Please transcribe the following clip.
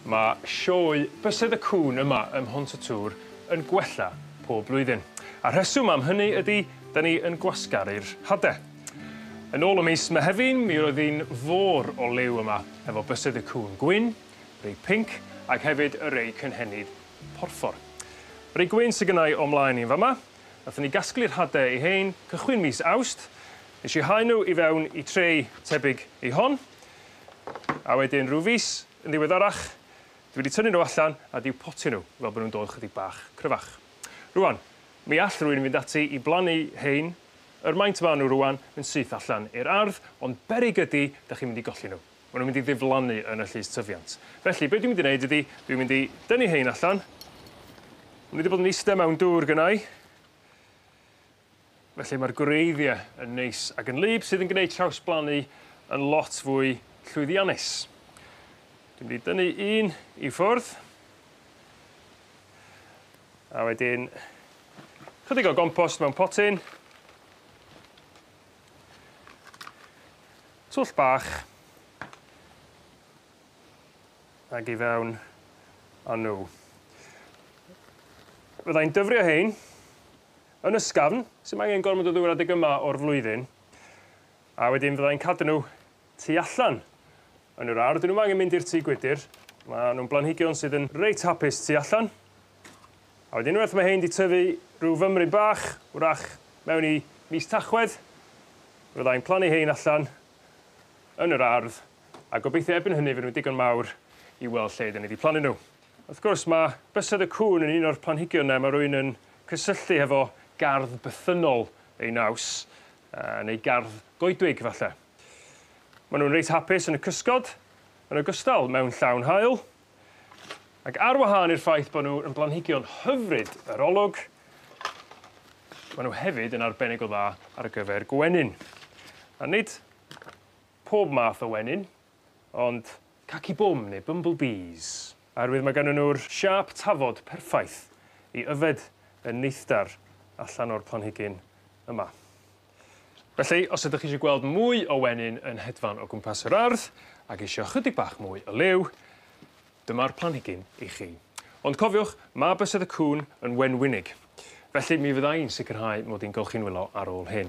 Mae sioe Bysedd y Cŵn yma ym Mhont y Tŵr yn gwella pob blwyddyn. A rheswm am hynny ydy, da ni yn gwasgaru'r hade. Yn ôl y mis Mehefin, mi roedd hi'n fôr o liw yma, efo Bysedd y Cŵn gwyn, rei pinc, ac hefyd y rei cynhenid porffor. Rei gwyn sydd gynnau o'm mlaen i yn fama, Nathon ni gasglu'r hade i 'hein cychwyn mis Awst. Nesh i hau n'w i fewn i tray tebyg i hon. A wedyn rhyw fis yn ddiweddarach dwi 'di tynnu n'w allan a 'di i'w potio n'w fel bo' nw'n dod chydig bach cryfach. Rŵan mi all rywun fynd ati i blannu 'hein yr maint ma' n'w rŵan yn syth allan i'r ardd ond beryg ydi 'dach chi'n mynd i golli n'w. ma' nw'n mynd i ddiflannu yn y llys tyfiant felly be' dwi mynd i neud ydi dwi mynd i dynnu rhein allan ma' n'w 'di bod yn iste mewn dŵr gynnai felly ma'r gwreiddie yn neis ag yn wlyb sydd yn gneud trawsblannu yn lot fwy llwyddiannus. Dwi mynd i dynnu un i ffwrdd a wedyn chydig o gompost mewn potyn Twll bach ag i fewn a n'w. Fydda i'n dyfrio rhein yn ysgafn, sdim angen gormod o ddŵr adeg yma o'r flwyddyn, a wedyn fydda i'n cadw n'w tu allan Yn yr ardd, 'dyn nw'm angen mynd i'r tŷ gwydyr, ma' nw'n blanhigion sydd yn reit hapus tu allan. A wedyn unwaith ma' 'hein 'di tyfu rhyw fymryn bach, 'w'rach mewn i mis Tachwedd, fe fyddai'n plannu 'hein allan yn yr ardd, a gobeithio erbyn hynny fy' nw'n digon mawr i weld lle 'dyn ni 'di plannu n'w. Wrth gwrs ma' bysedd y cŵn yn un o'r planhigion 'ne ma' rywun yn cysylltu hefo gardd bythynnol ei naws, yy neu gardd goedwig falle. Ma' nw'n reit hapus yn y cysgod yn ogystal mewn llawn haul ac ar wahân i'r ffaith bo' n'w yn blanhigion hyfryd yr olwg ma' n'w hefyd yn arbennig o dda ar gyfer gwenyn a nid pob math o wenyn ond caci bum ne' bumble bees oherwydd ma' gynnon nw'r siâp tafod perffaith i yfed y neithdar allan o'r planhigyn yma. Felly os ydych chi isio gweld mwy o wenyn yn hedfan o gwmpas yr ardd ag isio chydig bach mwy o liw dyma'r planhigyn i chi. Ond cofiwch ma' bysedd y cŵn yn wenwynig felly mi fydda i'n sicrhau mod i'n golchi'n wylo ar ôl hyn.